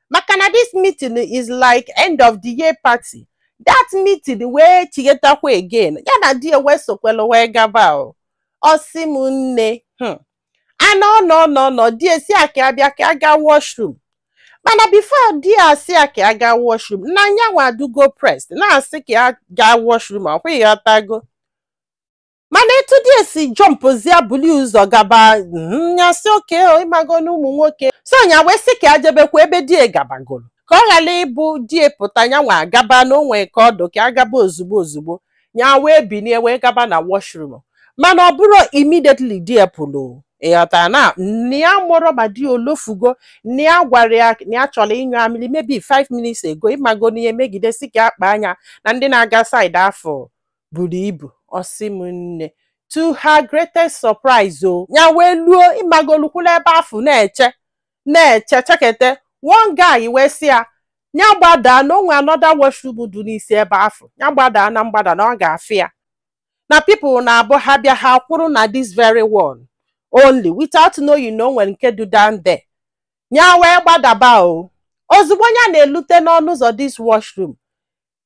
maka na this meeting is like end of the year party that meeting wee chighetakwa again ya na di ya wee sokwelu wee gaba o ọ sị m nne hmm. a nọọ nọọ nọọ di ya sị ya ka ya bịa ka ya gaa washroom mana before di ya sị ya ka ya gaa washroom na ya nwa adụgo pressed na-asị ka ya gaa washroom ọ kwa ị ghọtago mana etu die si jọmpụzia buli ụzọ gaba mm, ya sị okay o, ịmago na ụmụ nwoke so ya wee sị ka ya jebekwa ebe die gabagoro ka ọ ghara ịbụ die pụta ya nwa agaba na o nwe ka ọ dụ ka ya gaba ozugbo ozugbo ya wee binie wee gaba na washroom mana ọ bụrụ immediately die pụrụ ịghọtara na nne ya amarọ ma die o lofugo na ya gwara ya na ya chọrọ ịnyụ amịrị maybe 5 minutes ago ịmago na ihe megide sị ka ya kpaa anya na ndị na-aga side afụ buru ibu ọ sị m nne to her greatest surprise o ya wee luo ịmago lukwula ebe afụ na-eche na-eche chekete one guy wee sị ya ya gbadaa na o nwe another washroom dị n'isi ebe afụ ya gbadaa na mgbada na ọ ga-afụ ya na people na-abụ ha bịa ha kwụrụ na this very one only without knowing na o nwere nke dị down there ya wee gbadaba o ozugbo ya na-elute n'ọnụ ụzọ this washroom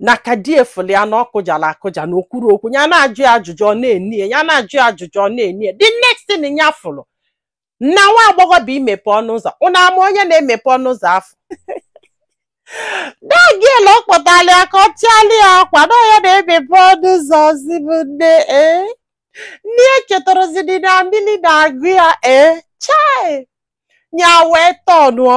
na ka di ya fụlụ ya na ọ kụjara akụja na o kwurọ okwu ya na-ajụ ya ajụjụ ọ na-ene ya ya na-ajụ ya ajụjụ ọ na-ene ya the next thing ya fụrụ na nwa agbọghọ bịa imepe ọnụ ụzọ ụnụ ama onye na-emepe ọnụ ụzọ afụ that girl ọ kpọtara ya ka ọ chịala ya akwa na ọ ya na-emepe ọnụ ụzọ ọ sị m nne ee na ya echetarọzidi na amịrị na-agụ ya ee chai ya wee tọnụọ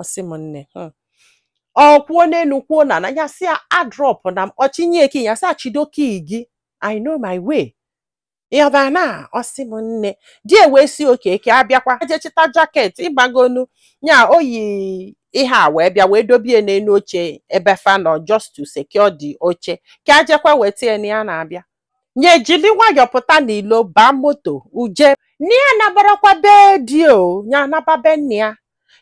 ọ sị m nne hmm. ọ kwuo n'elu kwuo n'ana ya sị ya adrọpụna m ọ chịnye key ya sị ya chịdo key gị i know my way ịghọtara na ọ sị m nne di ya wee sị okay ka ya bịakwa je chịta jacket ịmagonu ya o yi ihe a wee bịa wee dobie n'elu oche ebe fa nọ just to secure the oche ka ya jekwa weta ya na ya na-abịa nya ejiri nwayọọ pụta n'ilo baa moto uje na ya anabarọkwa be di o nya naba be nna ya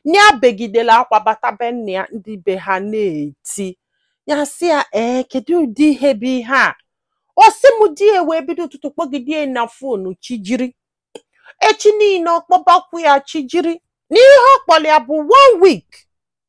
na ya begidelu akwa bata be nna ya ndị be ha na-eti ya sị ya ee kedu ụdị ihe bụ ihe a ọ sị m di ya wee bido ụtụtụ kpọgide ya na fonu chi jiri echi niile ọ kpọbakwu ya chi jiri na ihe ọ kpọrọ ya bụ one week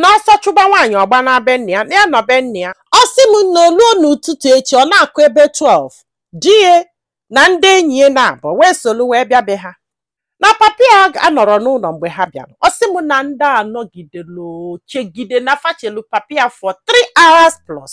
na ọsọ chụba nwaanyị ọ gbanaa be nna ya na ya nọ be nna ya ọ sị m na o luo n'ụtụtụ echi ọ na-akụ ebe 12 di ya na ndị enyi ya naabọ wee solu wee bịa be ha na papa ya anọrọ n'ụlọ mgbe ha bịara ọ sị m na ndị a nọgidelu chegide na fa chelu papa ya for 3 hours plus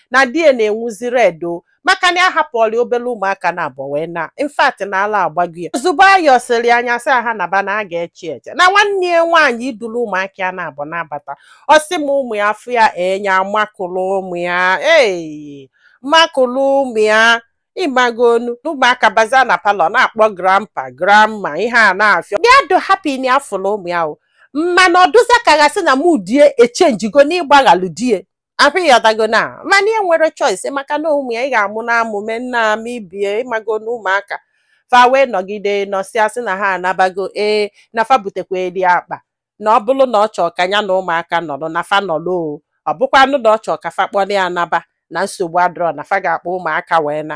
na di ya na-enwuzi red o maka na ya hapụọla ya obere ụmụaka naabọ wee naa in fact na ala agbago ya ozugbo ayọsịrị ya nya sị ha naba na ya ga-eche eche na nwanne ya nwaanyị iduru ụmụaka ya naabọ na-abata ọ sị m ụmụ ya afụ ya nya amakụrụ ụmụ ya ee makụrụ ụmụ ya ị magonu n'ụmụaka baza na parlour na-akpọ grandpa grandma ihe a na-afịọ bịa dị happy na afụrụ ụmụ ya o mana ọ dịzị ka a ga-asị na mmụọ die echenjigo n'ịgbaghalụ die afụ ị ghọtago na mana ya enwerọ choice maka na ụmụ ya ị ga-amụ na amụ mee nna ama ibie ị mago na ụmụaka fa wee nọgide nọsịa sị na ha anabago ee na fa butekweri akpa na ọ bụrụ na ọ chọọ ka ya na ụmụaka nọrọ na fa nọrọ o ọ bụkwanụ na ọ chọọ ka fa kpọrọ ya naba na nsogbu adịrọ na fa ga-akpọ ụmụaka wee na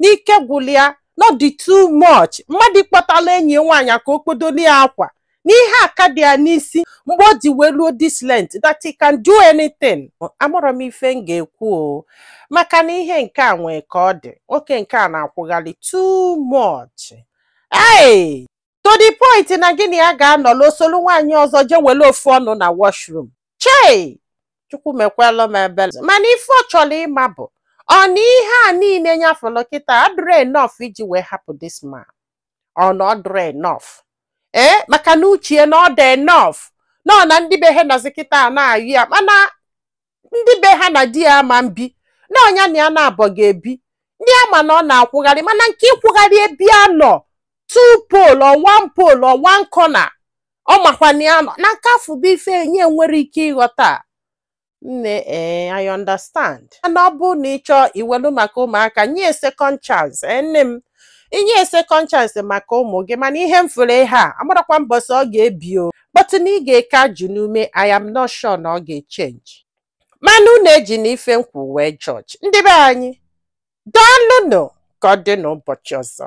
n'ike gwụrụ ya na ọ dị too much mmadụ ịkpọtala enyi ya nwaanyị ka o kpodoli ya akwa n'ihe aka dị ya n'isi mgbe o ji wee luo this length that he can do anything amarọ m ife m ga-ekwu o maka na ihe nke a nwee ka ọ dị nwoke nke a na-akwụgharị too much hey! to the point na gị na ya ga-anọla o solu nwaanyị ọzọ jee were ofu ọnụ na washroom chei chukwu mekwalụ m ebele mana ife ọ chọrọ ịma bụ ọ na ihe a niile nya fụlụ kịta adịrọ enough iji wee hapụ this man ọ na ọ dịrọ enough ee maka n'uche ya na ọ dị enough na ọ na ndị be ha nọzi kịta a na-ayọ ya mana ndị be ha na di ya ama mbi na ọ nya na ya naabọ ga-ebi ndị ama na ọ na-akwụgharị mana nke ịkwụgharị ebe ya nọ two pole or one pole or one corner ọ makwa na ya nọ na nke afụ bụ ife nya enwerọ ike ịghọta nne ee I understand mana ọ bụrụ na ị chọọ iwelu maka ụmụaka nye second chance ee nne m i nye second chance maka ụmụ gị mana ihe m fụrụ ihe a amarọkwa mbọsị ọ ga-ebi o but na ị ga-eke ajị n'ume I am not sure na ọ ga-echenji mana unu ejina ife m kwu wee judge ndị be anyị daalụnụ ka ọ dị n'ụbọchị ọzọ